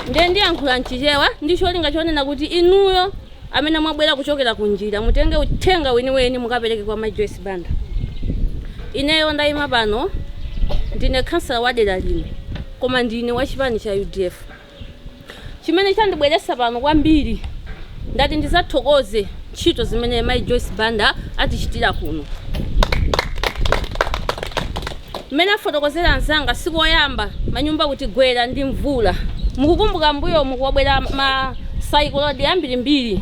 ndiye ndiyankhula mchichewa ndi cholinga chonena kuti inuyo amene mwabwera kuchokera ku njira mutenge uthenga weniweni mukapereke kwa mai joyce banda ineyo ndayima pano ndine khansala wa dera lino koma ndine wa chipani cha udf chimene chandibweresa pano kwambiri ndati ndizathokoze ntchito zimene Mayi Joyce Banda atichitira kuno. Mmene afotokozera anzanga, si koyamba manyumba kutigwera ndi mvula. Mukukumbuka m'mbuyomu kwabwera ma sayikoloni ambirimbiri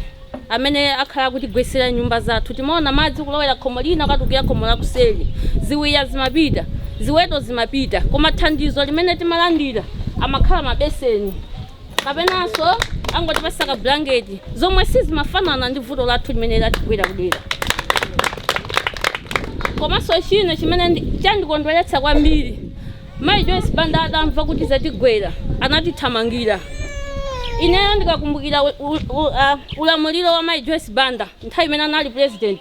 amene akhala akutigwetsera nyumba zathu. Timaona madzi kulowera khomo lina kukatulukira khomo lakuseri. Ziwiya zimapita, ziweto zimapita. Koma thandizo limene timalandira amakhala mabeseni. kapenanso angotipasa ka blanket zomwe sizimafanana ndi vuto lathu limene latigwera kudera komanso china chimene ndi- chandikondweretsa kwambiri mayi joyce banda atamva kuti zatigwera anatithamangira ineyo ndikakumbukira u- u- u- ah, ulamuliro wa mayi joyce banda nthawi imene anali president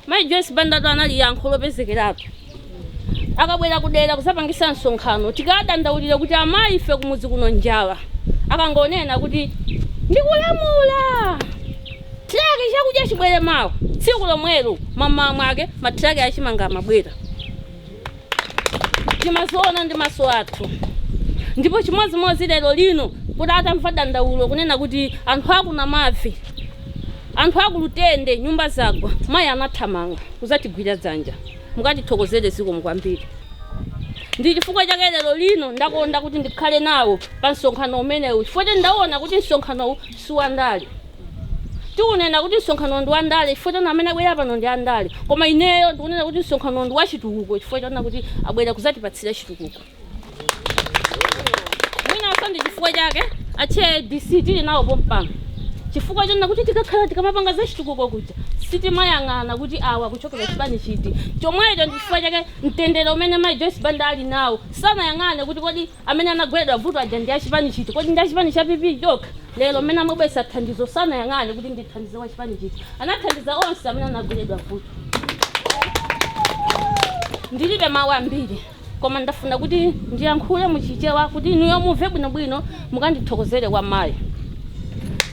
Mayi Joyce Bandatu anali yankho lopezekeratu akabwera kudera kuzapangisa msonkhano tikawadandaulira kuti amayi ife kumudzi kuno njala akangonena kuti ndikulamula truck chakudya chibwere mawa tsiku lomwelo mamawa mwake ma truck achimanga amabwera. timaziona ndi maso athu ndipo chimodzimodzi lero lino kuti atamva dandaulo kunena kuti anthu aku namavi anthu aku lutende nyumba zagwa mayi anathamanga kuzatigwira dzanja mukatithokozere zikomo kwambiri ndi chifukwa chake lero lino ndakonda kuti ndikhale nawo pa msonkhano umenewu chifukwa kuti ndaona kuti msonkhanowu siwandale Tikunena kuti msonkhanowu ndi wandale chifukwa choona amene abwera pano ndi andale. Koma ineyo ndikunena kuti msonkhanowu ndi wachitukuko chifukwa choona kuti abwera kudzatipatsira chitukuko. Mwinanso ndi chifukwa chake a Chair ADC tili nawo pompano. Chifukwa chonena kuti tikakhala tikamapanga za chitukuko kuja sitimayang'ana kuti awa kuchokera chipani chiti. Chomwecho ndi chifukwa chake mtendere umene Mayi Joyce Banda ali nawo sanayang'ane kuti kodi amene anagweredwa vuto aja ndi achipani chiti kodi ndi achipani cha pp chokha lero mmene amabwesa thandizo sanayang'ane kuti ndithandize wa chipani chiti anathandiza onse amene anagweredwa vuto ndilibe mawu ambiri koma ndafuna kuti ndiyankhule muchichewa kuti inuyo mumve bwinobwino mukandithokozere kwa mayi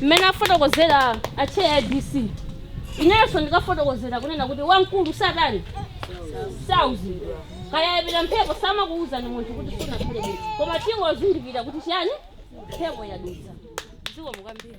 mmene afotokozera acheya adc inenso ndikafotokozera kunena kuti wamkulu satani sauzi Kaya yapita mphepo samakuwuzani munthu kuti sunakhale bwino, koma tingozindikira kuti chiyani mphepo yadutsa. Zikomo kwambiri.